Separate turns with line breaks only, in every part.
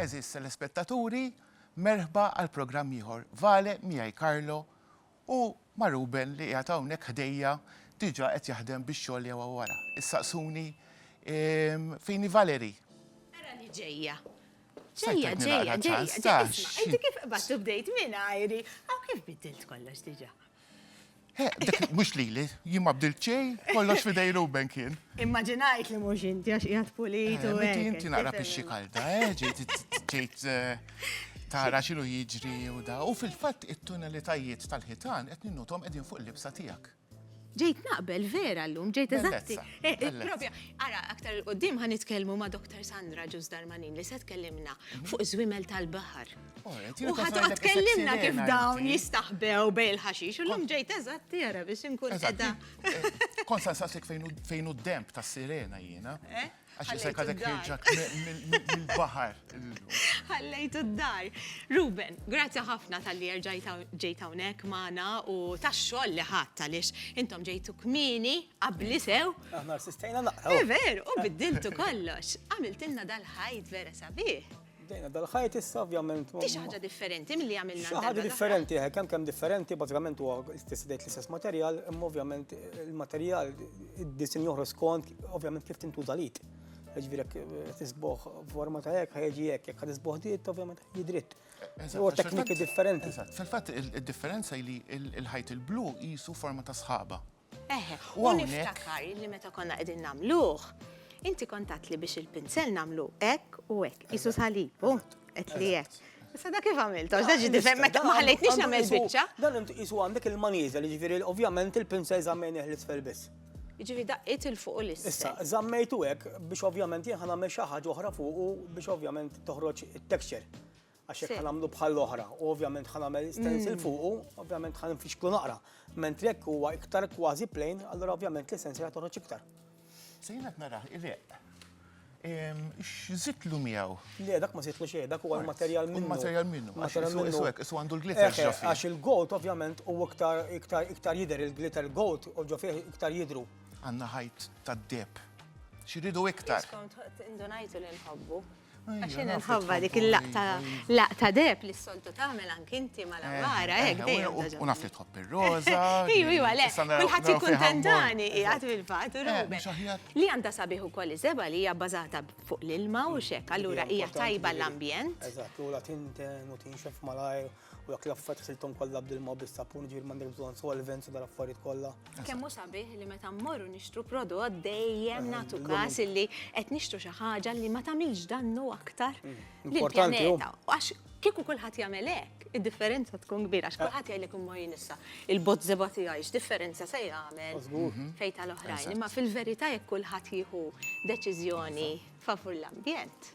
Eżis telespettaturi, merħba għal programm ieħor. Vale miegħi Karlo u ma' Ruben li qiegħed hawnhekk ħdejja diġà qed jaħdem biex xogħol jew wara. Issaqsuni ehm, fini Valeri. Ara li ġejja. Ġejja, ġejja,
ġejja.
Inti
kif qbad bdejt minn ajri, għaw kif bidilt kollox diġà.
Mhux lili, jien ma bdilt xejn, kollox f'idej Ruben kien. Immaġinajt li mhux
inti għax qiegħed pulit u hekk. Inti naqra pixxi kalda,
ġejt tara x'inhu jiġri u da. U fil-fatt it-tunelitajiet tal-ħitan qed ninnutom qegħdin fuq il-libsa tiegħek. Ġejt naqbel
vera llum, ġejt eżatti. Propja,
ara
aktar il-qudiem ħa nitkellmu ma' Dr. Sandra Ġuż Darmanin li se tkellimna fuq żwiemel tal-baħar. U ħadd tkellimna kif dawn jistaħbew bej il-ħaxix, u l-lum ġejt eżatt tira biex inkun edha. Konsa
sasik fejn u d-demp ta' sirena jiena. Eh? Għax jisajka dak ġak mill-bahar.
Għallejtu d-dar. Ruben, grazzi ħafna tal-li ġejta unek maħna u tax-xol li ħatta lix intom ġejtu kmini għabli sew. Aħna s-sistajna naqqa.
Eh, Veru, u biddiltu
kollox. Għamiltilna dal-ħajt vera sabiħ. Bdejna dal-ħajt
issa ovvjament. Ti xi ħaġa differenti
milli għamilna. Xi ħaġa differenti, eh,
kemm kemm differenti, bażikament huwa stess dejt l-istess materjal, imma ovvjament il-materjal id-disin joħroġ skont ovvjament kif tintuża lid. Ġifieri eh, tisboħ forma ta' hekk ħajġi hekk, jekk tisboħ dit ovvjament jidritt. Huwa tekniki differenti. Fil-fatt
id-differenza li l-ħajt il-blu jisu forma ta' sħaba. Eħe, u
niftakar li meta konna qegħdin nagħmluh, inti kontat li biex il-pinsel nagħmlu hekk u hekk, isu salib, u qed li hekk. Issa da kif għamiltu? Għax da ġi difhem meta ma ħallejtniex nagħmel biċċa. Dan inti qisu għandek
il-maniża li ġifieri ovvjament il-pinsel żammejnih l-isfel biss. Ġifieri daqqiet
il fuq u l-isfel. Issa, żammejtu
hekk biex ovvjament jien ħa nagħmel xi ħaġa oħra fuqu biex ovvjament toħroġ it-texture. Għax jekk ħanamlu bħall-oħra, u ovvjament ħanamel stencil fuqu, ovvjament ħan nfixklu naqra. Mentri jekk huwa iktar kważi plain, allura ovvjament li stencil ħatoħroġ iktar. Sejna
naraħ il-eq. X'żitlu miegħu? Le, dak ma żitlu
xejn, dak huwa l-materjal minnu. Materjal minnu. Materjal
minnu. Isu hekk, isu għandu l-glitter ġofi. Għax il-gold ovvjament
huwa iktar iktar iktar jidher il-glitter gold u ġofi iktar jidru. Għandna ħajt
tad-deb. Xiridu iktar. Skont indunajtu li
nħobbu. Għax jien nħobba dik il-laqta laqta deb li s-soltu tagħmel anki inti ma l-għamara eh, hekk eh, dejjem. Eh, u naf li tħobb ir-roża.
Iju, iju, le,
kulħadd ikun tentani qiegħed fil-fatt u Ruben. Li għandha sabiħ ukoll iżeba li hija bbażata fuq l-ilma u xek, allura hija tajba l-ambjent. Eżatt, u la
tinten u tinxef malajr. U dak l-affarijiet ħsilthom kollha bdilma bis-sapun, ġifieri m'għandek bżonn solvents u dal-affarijiet kollha. Kemm hu sabiħ li meta
mmorru nixtru prodott dejjem nagħtu każ illi qed nixtru xi ħaġa li ma tagħmilx dannu aktar lill-pjaneta. Għax kieku kulħadd jagħmel hekk, id-differenza tkun kbira. Għax kulħadd jgħidlek imma jien issa il-bozzeba tiegħi x'differenza se jagħmel fejn tal-oħrajn. Imma fil-verità jekk kulħadd jieħu deċiżjoni favur l-ambjent.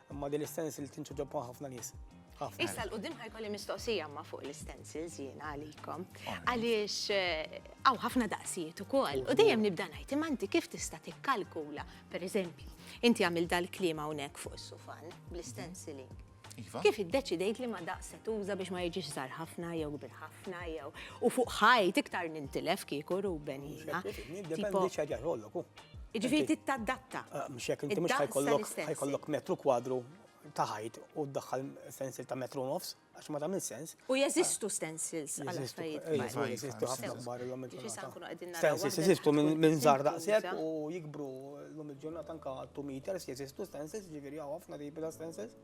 Imma din l-istensil tinċu ġobba ħafna nies. Issa l-qudiem
ħajkolli mistoqsija ma fuq l-istensils jien għalikom. Għaliex eh, għaw ħafna daqsijiet ukoll. U dejjem nibda ngħid imma inti kif tista' tikkalkula, pereżempju, inti għamil dal-klima hawnhekk fuq is-sufan bl-istensiling. Iva. Kif iddeċidejt li ma daqse tuża biex ma jiġix żar ħafna jew kbir ħafna jew u fuq ħajt iktar nintilef kieku Ruben jiena. Dependi xi ħaġa
jħollok. Jiġifieri trid
tadatta. Ah, mhux jekk inti mhux
ħajkollok ħajkollok metru kwadru ta' ħajt u ddaħħal stencil ta' metru nofs, għax ma tagħmel sens. U jeżistu
stencils għal affarijiet. Jeżistu ħafna
kbar illum il-ġurnata. Stencils jeżistu minn żgħar daqshekk u jikbru llum il-ġurnata anke 2 meters jeżistu stencils, ġifieri hawn ħafna tipi ta' stencils.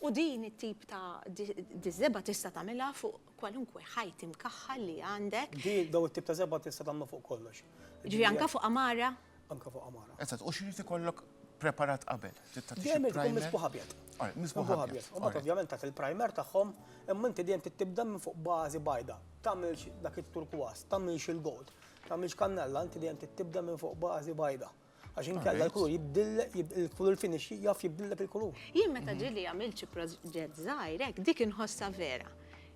U din
it-tip ta' diżeba tista' tagħmilha fuq kwalunkwe ħajt imkaħħal li għandek. Di, dawn it-tip ta' żebgħa
tista' tagħmlu fuq kollox. Jiġifieri anke fuq
għamara? Anke fuq għamara.
Eżatt, u x'irid ikollok
preparat qabel? Trid tagħti xi primer? Dejjem misbuħ
abjad. Alright, misbuħ abjad.
U mbagħad ovvjament tagħti
l-primer tagħhom, imma inti dejjem tibda minn fuq bażi bajda. Tagħmilx dak it-turkwas, tagħmilx il-gold, tagħmilx kannella, inti dejjem tibda minn fuq bażi bajda. Għax inkella l-kulur jibdillek, il-kulur finish jaf jibdillek il-kulur.
Jien meta mhm.
ġili
għamilt xi proġett
żgħir
hekk dik inħossha vera.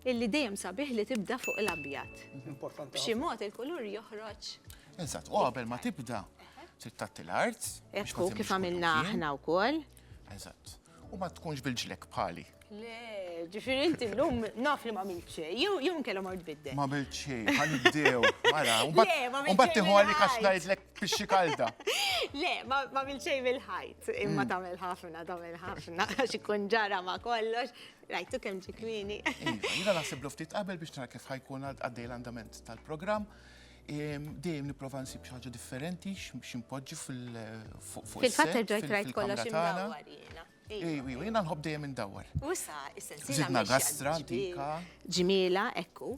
Illi dejjem sabiħ li tibda fuq l-abjad. Importanti. B'xi
mod il-kulur
joħroġ. Eżatt, u qabel
ma tibda, trid tagħti l-art. Ekku kif għamilna
aħna wkoll. Eżatt.
U ma tkunx bil-ġlek bħali. Le,
ġifiri inti l-lum naf li ma għamilt xej, jew nkella mort bidde. Ma għamilt xej, għan
ibdew, mara, un bat
tiħu għalli kax najdlek
pixxi
kalda.
Le,
ma għamilt xej bil-ħajt, imma mm. tamel ħafna, tamel ħafna, xikun ġara ma kollox, rajtu kem ġikwini. Iva, jina nasib
ftit qabel biex nara kif ħajkun għaddej l-andament tal-program, Dejjem nipprova nsib xi ħaġa differenti x'inpoġġi fuq is-set. Fil-fatt irġajt rajt
kollox imdawwar jiena. Ejwi, jiena nħobb
dejjem indawwar. U issa is-sensiela.
Żidna gastra
antika. Ġmiela,
ekku.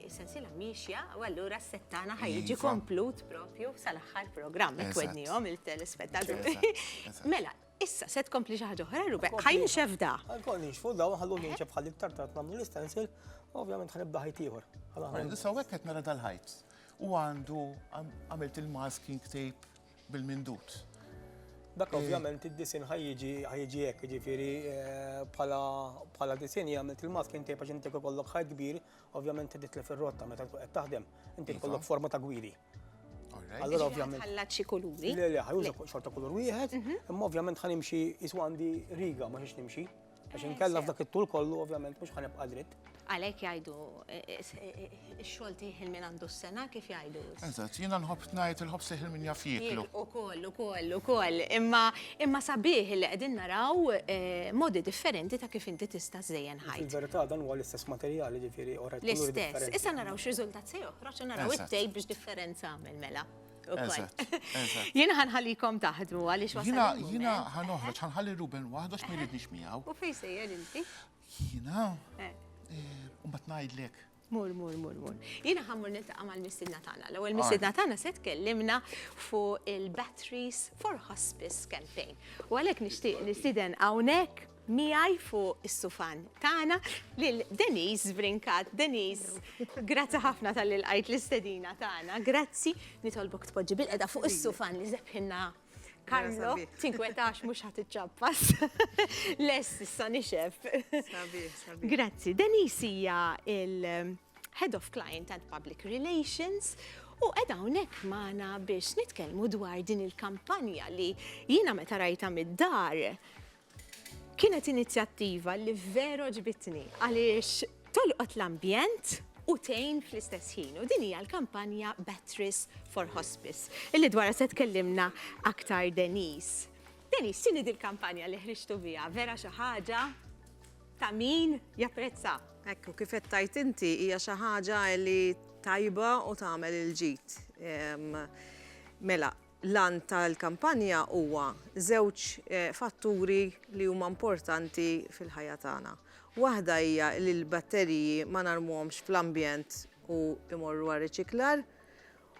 Is-sensiela miexja u allura s-set tagħna ħa jiġi komplut propju sal-aħħar programm. Qed wednihom
il-telespettaturi.
Mela,
Issa, se
tkompli xi ħaġa oħra, Ruben? Ħa jinxef da. Ħankoll ninxfu da,
ħallu jinxef ħalli iktar tard nagħmlu l-istensil, ovvjament ħanibda ħajt ieħor. Issa hekk qed
nara dal-ħajt. U għandu għamilt il-masking tape bil-mindut. Dak
ovvjament id-disin ħajġi ħajġi hekk, ġifieri eh, bħala disin jagħmel il-masking tape għax inti kollok ħajt kbir Ovvjament trid titlef ir-rotta meta tkun qed taħdem, inti iva. tkollok forma ta' gwidi. Allora ovvjament. Ħallat xi kulur. Le,
le, ħajuża xorta
kulur wieħed, mhm. imma ovvjament ħanimxi jiswa għandi riga ma xiex nimxi. Għax eh, inkella f'dak it-tul kollu ovvjament mhux ħanibqa' dritt. Għalhekk jgħidu
eh, eh, x-xogħol tieħel minn għandu s-sena kif jgħidu. Eżatt, jiena nħobb
ngħid il-ħobż iħil min jaf jieklu. Ukoll, ukoll, ukoll.
Imma imma sabiħ li qegħdin naraw eh, modi differenti ta' kif inti tista' żejjen ħajt. Fil-verità dan huwa l-istess
materjal, ġifieri ora jkun differenti. L-istess. Issa naraw
x'riżultat
se
joħroġ u naraw it-tejb biex differenza
għamel
mela.
Jien ħanħallikom
taħdmu għaliex wasal. Jina, jina ħanoħroġ,
ħanħalli Ruben waħdu x'miridniex miegħu. U fejn sejjer inti?
Jina. Eh. Eh, u ma
tnajdlek. Mur, mur, mur,
mur. Jina ħammur niltaqa mal missiedna tagħna. L-ewwel missiedna tagħna se tkellimna fuq il-Batteries for Hospice Campaign. U għalhekk nixtieq nisiden hawnhekk miegħi fuq is-sufan tagħna lil Denise Brinkat. Denise, grazzi ħafna tal-li l-istedina tagħna. Grazzi, nitolbok tpoġġi bil-qeda fuq is-sufan li zebħinna Karlo, tinkwetax mux ħat iċċappas. Les, issa nixef.
Grazzi. Denise
hija il-Head of Client and Public Relations u edha unek maħna biex nitkelmu dwar din il-kampanja li jina meta rajta mid-dar Kienet inizjattiva li veru għġbitni għaliex tolqot l-ambjent u tgħin fl-istess ħin u din hija l-kampanja Batteries for Hospice illi dwarha se tkellimna aktar Denise. Denise, x'inhi dil-kampanja li ħriġtu biha? Vera xi ħaġa ta' min japprezza? Ekku, kif qed
tgħid inti hija xi ħaġa li tajba u tagħmel il-ġid. Mela, L-għan tal-kampanja huwa żewġ fatturi li huma importanti fil-ħajja tagħna. Waħda hija li l-batteriji ma narmuhomx fl-ambjent u jmorru għar-riċiklar,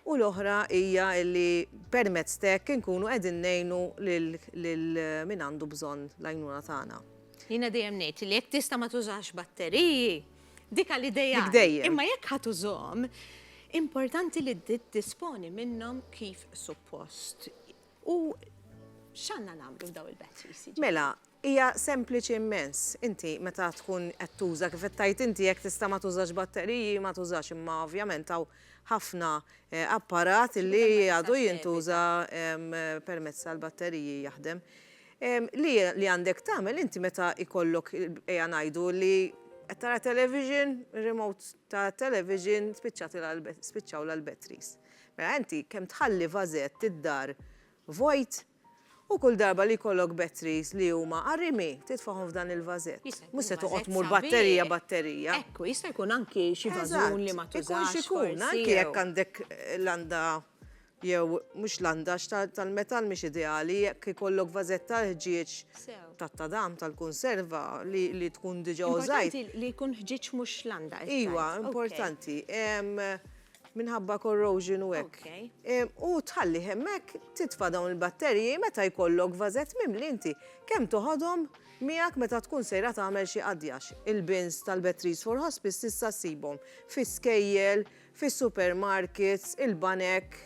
u l-oħra hija li permezz t'hekk inkunu qegħdin ngħinu lil min għandu bżonn l-għajnuna tagħna. Jiena dejjem ngħid
li jekk tista' ma tużax batteriji, Dik għal ideali. Imma jekk ħadd
użhom,
importanti li disponi minnhom kif suppost. U x'għandna nagħmlu f'daw il-batteries? Mela, hija
sempliċi immens. Inti meta tkun qed tuża kif qed tajt inti jekk tista' ma tużax batteriji, ma tużax imma ovvjament hawn ħafna eh, apparat li għadu jintuża permezz tal-batteriji jaħdem. Li li għandek tagħmel inti meta jkollok ejja ngħidu li qed tara television, remote ta' television spiċċatilha spiċċawlha l-batteries. Mela inti kemm tħalli vażett id-dar vojt u kull darba li jkollok batteries li huma qarimi titfagħhom f'dan il-vażett. Mhux se toqgħod tmur batterija batterija. Ekku, jista' jkun
anki xi vażun li ma tużax forsi. Ikun x'ikun, anki jekk
għandek landa jew mhux l-għandax tal-metall mhix ideali, jekk ikollok vażett tal-ħġieġ tat-tadam tal-kunserva li tkun diġà użajt. Importanti li jkun ħġieġ
mhux l-għandax. Iva, importanti.
Minħabba corrosion u hekk. U tħalli hemmhekk titfa' dawn il-batterji meta jkollok vażett mimli inti. Kemm toħodhom miegħek meta tkun sejra tagħmel xi qadjax. Il-bins tal-Batteries for Hospice tista' ssibhom fi skejjel, fis-supermarkets, il-banek,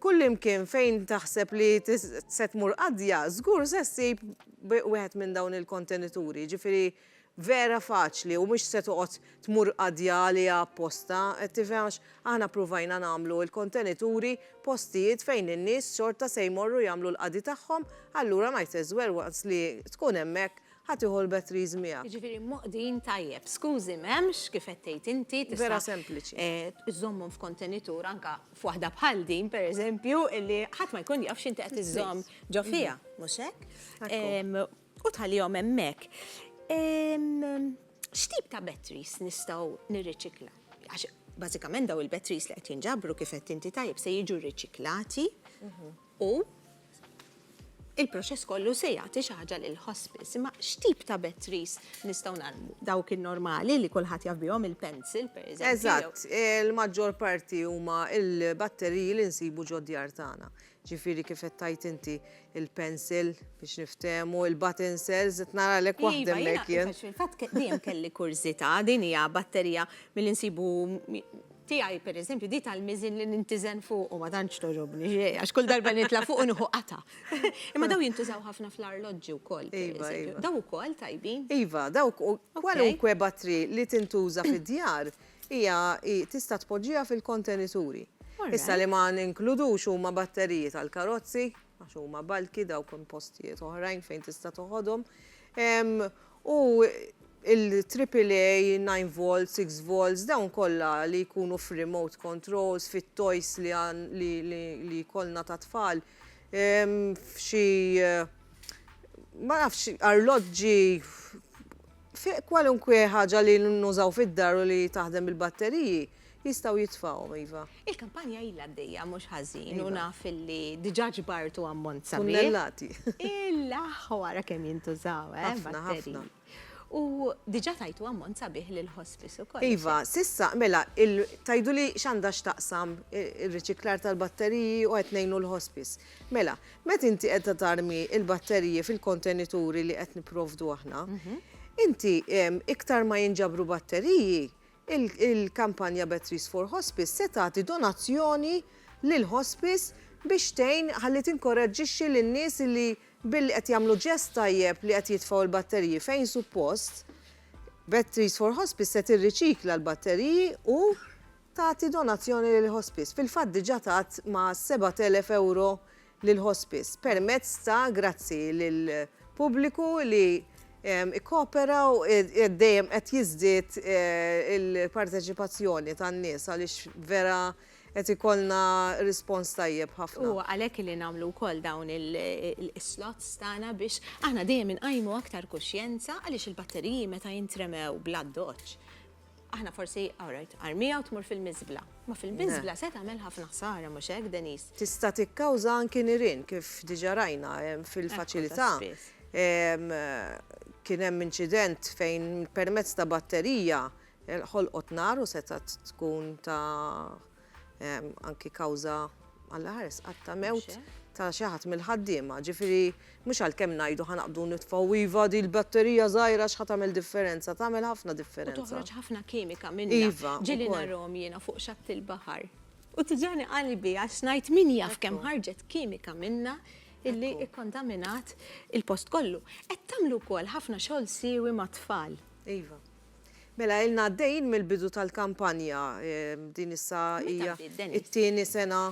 kullimkien fejn taħseb li se tmur qadja, żgur se ssib wieħed minn dawn il-kontenituri. Jiġifieri vera faċli u mhux se toqgħod tmur qadja għaliha apposta, qed tifhem għax aħna ppruvajna nagħmlu l-kontenituri postijiet fejn in-nies xorta se jmorru jagħmlu l-qadi tagħhom, allura might as well once li tkun hemmhekk Ħa tieħu l-batteries miegħek. Jiġifieri mgħoqdin
tajjeb. Skużi m'hemmx, kif qed tgħid inti, tista'. Vera sempliċi.
Iżżommhom
f'kontenitur anke f'waħda bħal din, pereżempju, li ħadd ma jkun jaf x'inti qed iżżomm ġo fiha, mhux hekk? U tħallihom hemmhekk. X'tip ta' batteries nistgħu nirriċikla? Għax bażikament dawn il-batteries li qed jinġabru kif qed inti tajjeb se jiġu rriċiklati. u il-proċess kollu se jagħti xi ħaġa lill-hospice. Imma x'tip ta' bed trees nistgħu nagħmlu? Dawk in-normali li kulħadd jaf bihom il-pencil, pereżempju. Eżatt, il-maġġor
parti huma l-batteriji li nsibu ġod-djar tagħna. Ġifieri kif qed tgħid inti il-pencil biex niftehmu, il-button cells, qed naralek iva, waħda hemmhekk jien. Fil-fatt dejjem kelli
kurżità, din hija batterija milli nsibu Tiegħi, pereżempju, di tal-miżien li nintiżen fuqu ma tantx togħġobni, għax kull darba li nitla' fuqu nieħu qatgħa. Imma dawn jintużaw ħafna fl-arloġġi wkoll, pereżempju. Dawn ukoll tajbin? Iva, dawk u
kwalunkwe battery li tintuża fid-djar hija tista' tpoġġiha fil-kontenituri. Issa li ma ninkludux huma batteriji tal-karozzi għax huma bulky dawk hemm postijiet oħrajn fejn tista' toħodhom. U l-AAA, 9 volts, 6 volts, dawn kollha li jkunu f'remote controls, fit-toys li jkollna tat-tfal, f'xi ma nafx, arloġġi, fi kwalunkwe ħaġa li nużaw fid-dar u li taħdem bil-batteriji. Jistgħu jitfgħuhom, iva. Il-kampanja ilha għaddejja
mhux ħażin u naf illi diġà ġbartu ammont sabiħ. Tunnellati.
Il-aħħ
wara kemm jintużaw, eh? Ħafna, ħafna. U diġà tajtu ammont sabiħ lill-hospice ukoll. Iva, s'issa, mela,
tgħiduli x'għandha x'taqsam ir-riċiklar tal-batteriji u qed ngħinu l-hospice. Mela, meta inti qiegħda tarmi l-batteriji fil-kontenituri li qed nipprovdu aħna, inti iktar ma jinġabru batteriji, Il-kampanja Batteries for Hospice se tagħti donazzjoni lil hospice biex tgħin ħalli tinkoraġġixxi lin-nies li billi qed jagħmlu ġest tajjeb li qed jitfgħu l-batteriji fejn suppost. Batteries for Hospice se tirriċikla l-batteriji u tagħti donazzjoni lil hospice. Fil-fatt diġà tat ma' 7,000 ewro lill-Hospice permezz ta' grazzi lill-pubbliku li kkoopera u dejjem qed jiżdied il-parteċipazzjoni tan-nies għaliex vera qed ikollna rispons tajjeb ħafna. Huwa għalhekk li
nagħmlu wkoll dawn is-slots tagħna biex aħna dejjem inqajmu aktar kuxjenza għaliex il-batteriji meta jintremew bl-addoċċ, Aħna forsi, all right, armiha u tmur fil-miżbla. Ma fil-miżbla se tagħmel ħafna ħsara, mhux hekk, Denise? Tista' tikkawża
anki nirien, kif diġà rajna fil-faċilità. Kien hemm inċident fejn permezz ta' batterija ħolqot nar u setgħet tkun ta' anki kawża Alla ħares qatt ta' mewt ta' xi ħadd mill-ħaddiema. Ġifieri mhux għalkemm ngħidu ħa naqbdu nitfgħu iva di l-batterija żgħira x'ħa tagħmel differenza, tagħmel ħafna differenza. U toħroġ ħafna kimika
minnha. Iva. Ġieli narhom
jiena
fuq xatt il-baħar. U tiġani qalbi għax ngħid min jaf kemm ħarġet kimika minnha illi kkontaminat il-post kollu. Qed tagħmlu wkoll ħafna xogħol siewi mat-tfal. Iva.
Mela ilna għaddejjin mill-bidu tal-kampanja, din issa hija t-tieni sena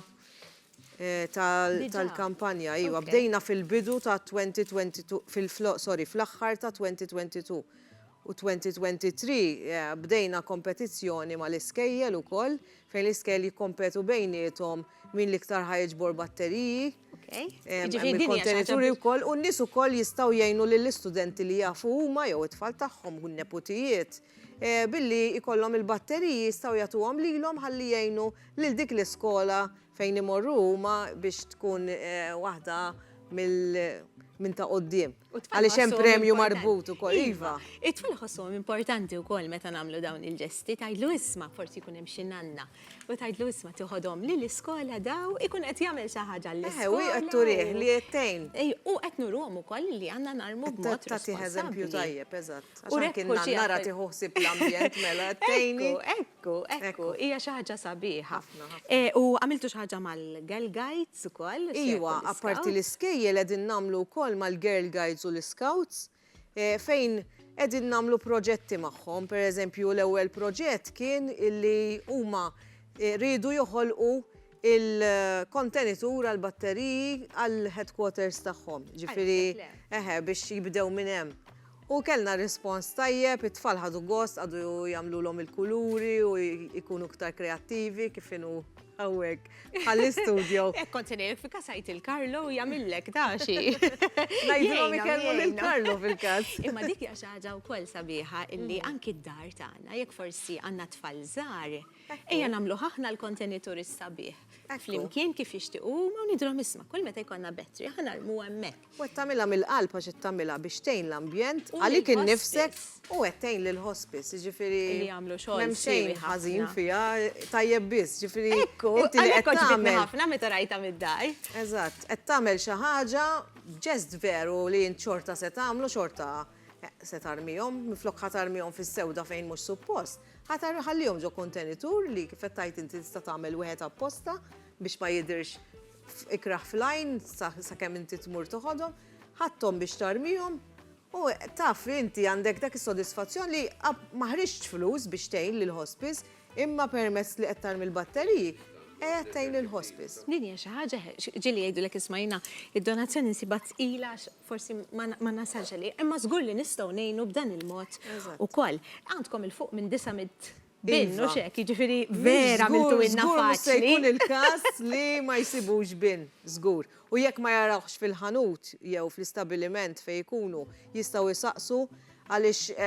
tal-kampanja, iva, bdejna fil-bidu ta' 2022, sorry, fl-aħħar ta' 2022 u 2023 bdejna kompetizzjoni mal-iskejjel ukoll fejn l-iskejjel jikkompetu bejniethom min l-iktar ħa jiġbor batteriji. Il-kontenituri wkoll u n-nies ukoll jistgħu jgħinu lill-istudenti li jafu huma jew it-tfal tagħhom u n-neputijiet billi jkollhom il-batteriji jistgħu jagħtuhom lilhom ħalli jgħinu lil dik l-iskola fejn imorru huma biex tkun waħda minn ta' quddiem. Għaliex hemm premju marbut ukoll. Iva. It-tfal ħossuhom
importanti wkoll meta nagħmlu dawn il-ġesti tgħidlu isma' forsi jkun hemm xi nanna U tgħidlu isma' tiħodhom li l-iskola daw ikun qed jagħmel xi ħaġa l iskola Eħe, u qed turih li
qed tgħin. U qed nuruhom
ukoll li għandna narmu b'mod Ta' tagħtih eżempju
tajjeb, eżatt. Għax anki n-nannara tieħu ħsieb l-ambjent mela qed tgħini. Ekku, ekku, ekku,
hija xi ħaġa sabiħa. U għamiltu xi ħaġa mal-Girl Guides ukoll? Iwa, apparti
l-iskejjel qegħdin nagħmlu wkoll mal-Girl Guides u l-Iscouts, fejn qegħdin nagħmlu proġetti magħhom. Pereżempju l-ewwel proġett kien illi huma riedu joħolqu il-kontenitur għal batteriji għal headquarters tagħhom. Ġifieri eħe biex jibdew minn hemm. U kellna rispons tajjeb, it-tfal ħadu gost, qagħdu jagħmlulhom il-kuluri u jkunu iktar kreattivi kif inhu hawnhekk. għall-istudio. Ek kont senejek fi
kasajt il-Karlo u jamillek daċi. Najdilom
ikellmu l-Karlo fil-kas. Imma dik jaxħaġa
u kol sabiħa illi mm. anki d-dar tagħna jekk forsi għandna tfal żgħar, ejja nagħmlu ħahna l-kontenitur is-sabiħ. Flimkien kif jixtiequ ma nidrom isma' kull meta jkollna betri ħanarmu hemmhekk. U qed tagħmilha mill-qalb
għax qed tagħmilha biex tgħin l-ambjent, għalik innifsek u qed tgħin lill-hospice, jiġifieri m'hemm
xejn ħażin
fiha,
tajjeb
biss, jiġifieri inti li qed
tagħmel.
Ħafna meta rajtha mid-dar.
Eżatt, qed
tagħmel xi ħaġa b'ġest veru li int xorta se tagħmlu, xorta se tarmihom, minflok ħa tarmihom fis-sewda fejn mhux suppost, ħa ħallihom ġo kontenitur li kif qed tgħid inti tista' tagħmel wieħed apposta biex ma jidhirx ikrah fl-għajn sakemm inti tmur toħodhom, ħadthom biex tarmihom u taf li inti għandek dak is-sodisfazzjon li ma ħriġtx flus biex tgħin lill-hospice imma permezz li qed tarmi l-batteriji qiegħed tgħin lill-hospice. Din hija xi ħaġa,
ġieli jgħidulek isma' jiena d-donazzjoni nsibha tqila għax forsi ma nasalx għalih, imma żgur li nistgħu ngħinu b'dan il-mod ukoll. Għandkom 'il fuq minn 900 Bin, mhux hekk, jiġifieri vera għamiltu ilna faċli. Żgur, żgur mhux se jkun il-każ
li ma jsibux bin, żgur. U jekk ma jarawhx fil-ħanut jew fl-istabbiliment fejn ikunu, jistgħu jsaqsu għaliex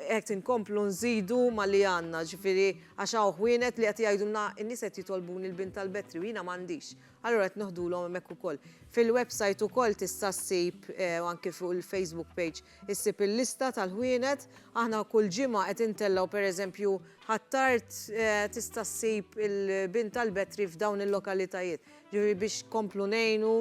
qed inkomplu nżidu ma' li għandna, jiġifieri għax hawn ħwienet li qed jgħidulna in-nies qed jitolbuni l-bin tal-battery u jiena m'għandix. Allura qed neħdulhom hemmhekk ukoll. Fil-website ukoll tista' ssib, u anki fuq il-Facebook page, Issib il-lista tal-ħwienet. Aħna kull ġimgħa qed intellgħu pereżempju Ħ'Attard tista' ssib il-bin tal-betri f'dawn il-lokalitajiet. Ġifieri biex nkomplu ngħinu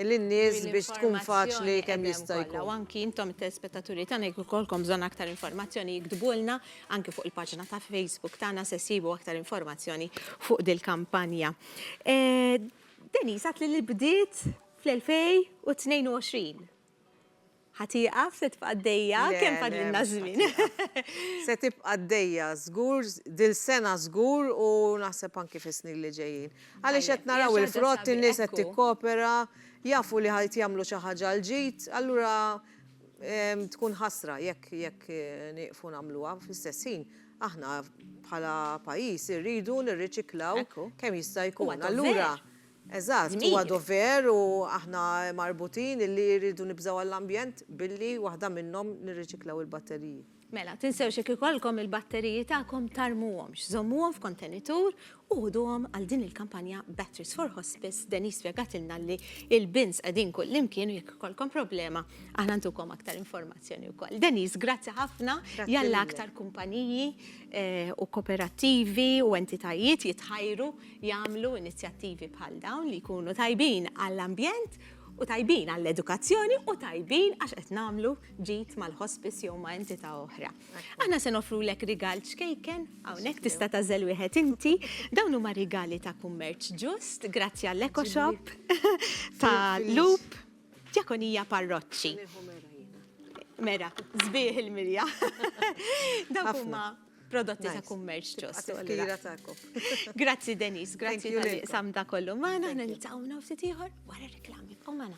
lin-nies biex tkun faċli kemm jista' jkun. U anki intom
it-telespettaturi tagħna jekk ikollkom bżonn aktar informazzjoni iktbulna anki fuq il-paġna ta' Facebook tagħna se ssibu aktar informazzjoni fuq dil-kampanja. Denise għadtli li bdiet fl-2022. Ħa tieqaf, se tibqa' għaddejja, kemm fadlilna ż-żmien? Le, le, mhux ħa tieqaf. Se
tibqa' għaddejja żgur, dil-sena żgur u naħseb anki fis-snin li ġejjin. Għaliex qed naraw il-frott, in-nies qed tikkopera, jafu li qed jagħmlu xi ħaġa l-ġid, allura tkun ħasra jekk jekk nieqfu nagħmluha. Fl-istess ħin, aħna bħala pajjiż irridu nirriċiklaw kemm jista' jkun. Allura. Eżatt, huwa dover u aħna marbutin illi rridu nibżgħu għall-ambjent billi waħda minnhom nirriċiklaw il-batteriji. Mela, tinsewx jekk
ikollkom il-batteriji tagħkom tarmuhomx, żommuhom f'kontenitur u ħuduhom għal din il-kampanja Batteries for Hospice, Denise spjegatilna li l-bins qegħdin kullimkien u jekk ikollkom problema aħna ntukom aktar informazzjoni wkoll. Denise, grazzi ħafna, jalla aktar kumpaniji u koperattivi u entitajiet jitħajru jagħmlu inizjattivi bħal dawn li jkunu tajbin għall-ambjent u tajbin għall-edukazzjoni u tajbin għax qed nagħmlu ġid mal-hospice jew ma' entità oħra. Aħna se nofrulek rigal ċkejken hawnhekk tista' tażel wieħed inti. Dawn huma rigali ta' kummerċ ġust, grazzi għall-Eco Shop ta' Loop, Djakonija Parroċċi. Mera, sbieħ il-milja. Dawk huma prodotti ta' kummerċ ġost. Grazzi Denise, grazzi tal sam da kollu maħna, ħna nil-tawna u ftit ieħor wara reklami. U maħna.